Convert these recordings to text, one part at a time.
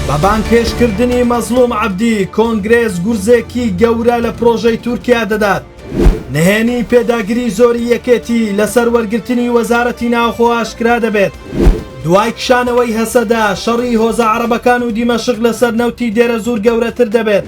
بە بانگهێشتکردنی مەزڵوم عەبدی، کۆنگرێس گورزێکی گەورە لە پرۆژەی تورکیا دەدات. نهێنی پێداگری زۆری یەکێتی لەسەر وەرگرتنی وەزارەتی ناوخۆ ئاشکرا دەبێت. دوای کشانەوەی هەسەدە، شەڕی هۆزە عەڕەبەکان و دیمەشق لەسەر نەوتی دێرەزوور گەورەتر دەبێت.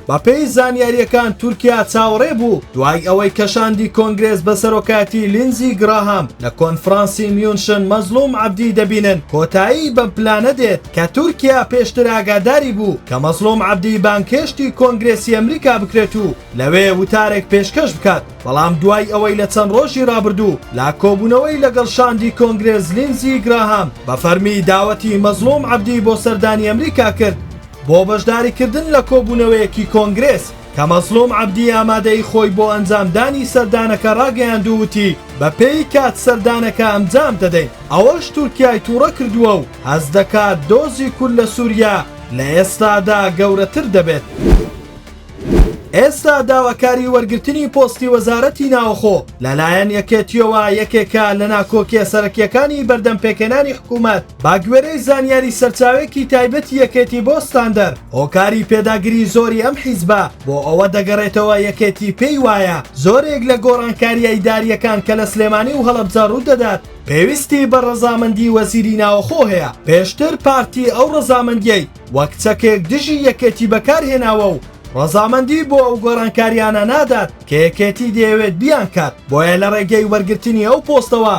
بەپێی زانیارییەکان تورکیا چاوەڕێ بوو دوای ئەوەی کە شاندی کۆنگرێس بە سەرۆکایەتی لینزی گراهام لە کۆنفرانسی میونشن مەزڵوم عەبدی دەبینن کۆتایی بەم پلانە دێت کە تورکیا پێشتر ئاگاداری بوو کە مەزڵوم عەبدی بانگهێشتی کۆنگرێسی ئەمریکا بکرێت و لەوێ وتارێک پێشکەش بکات بەڵام دوای ئەوەی لە چەند ڕۆژی ڕابردوو لا کۆبوونەوەی لەگەڵ شاندی کۆنگرێس لینزی گراهام بە فەرمی داوەتی مەزڵوم عەبدی بۆ سەردانی ئەمریکا کرد بۆ بەشداریکردن لە کۆبوونەوەیەکی کۆنگرێس کە مەزڵوم عەبدی ئامادەیی خۆی بۆ ئەنجامدانی سەردانەکە ڕاگەیاند و وتی، بە پێی کات سەردانەکە ئەنجام دەدەین، ئەوەش تورکیای تووڕە کردووە و هەست دەکات دۆزی کورد لە سووریا لە ئێستادا گەورەتر دەبێت. ئێستا داواکاری وەرگرتنی پۆستی وەزارەتی ناوەخۆ لە لایەن یەکێتییەوە یەکێکە لە ناکۆکییە سەرەکییەکانی بەردەم پێکهێنانی حکوومەت، بەگوێرەی زانیاری سەرچاوێکی تایبەتی یەکێتی بۆ ستاندەر، هۆکاری پێداگری زۆری ئەم حیزبە بۆ ئەوە دەگەڕێتەوە یەکێتی پێی وایە زۆرێک لە گۆڕانکارییە ئیدارییەکان کە لە سلێمانی و هەڵەبجە ڕوو دەدات، پێویستی بە ڕەزامەندی وەزیری ناوەخۆ هەیە، پێشتر پارتی ئەو ڕەزامەندییەی. وەک چەکێک دژی یەکێتی بەکارهێناوە و ڕەزامەندی بۆ ئەو گۆڕانکارییانە نادات کە یەکێتی دەیەوێت بیانکات، بۆیە لە ڕێگەی وەرگرتنی ئەو پۆستەوە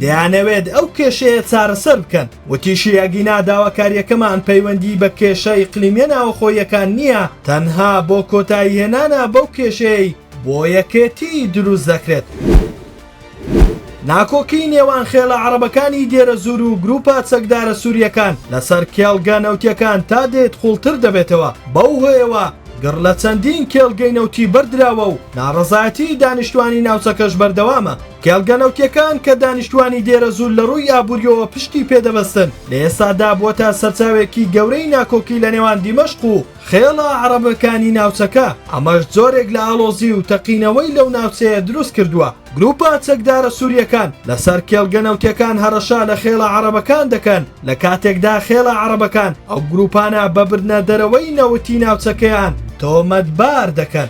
دەیانەوێت ئەو کێشەیە چارەسەر بکەن. وتیشی، ئەگینا داواکارییەکەمان پەیوەندی بە کێشە ئیقلیمییە ناوەخۆییەکان نییە، تەنها بۆ کۆتاییهێنانە بەو کێشەیەی بۆ یەکێتی دروست دەکرێت. ناکۆکیی نێوان خێڵە عەڕەبەکانی دێرەزوور و گرووپە چەکدارە سوورییەکان لەسەر کێڵگە نەوتییەکان تا دێت قووڵتر دەبێتەوە، بەو هۆیەوە گڕ لە چەندین کێڵگەی نەوتی بەردراوە و ناڕەزایەتیی دانیشتووانی ناوچەکەش بەردەوامە. کێڵگە نەوتییەکان کە دانیشتووانی دێرەزوور لە ڕووی ئابوورییەوە پشتی پێ دەبەستن، لە ئێستادا بووەتە سەرچاوێکی گەورەی ناکۆکی لەنێوان دیمەشق و خێڵە عەڕەبەکانی ناوچەکە، ئەمەش جۆرێک لە ئاڵۆزی و تەقینەوەی لەو ناوچەیە دروست کردووە، گروپە چەکدارە سوریەکان لەسەر کێڵگە نەوتیەکان هەڕەشە لە خێڵە عەڕەبەکان دەکەن، لە کاتێکدا خێڵە عەڕەبەکان ئەو گروپانە بە بردنە دەرەوەی نەوتی ناوچەکەیان تۆمەتبار دەکەن.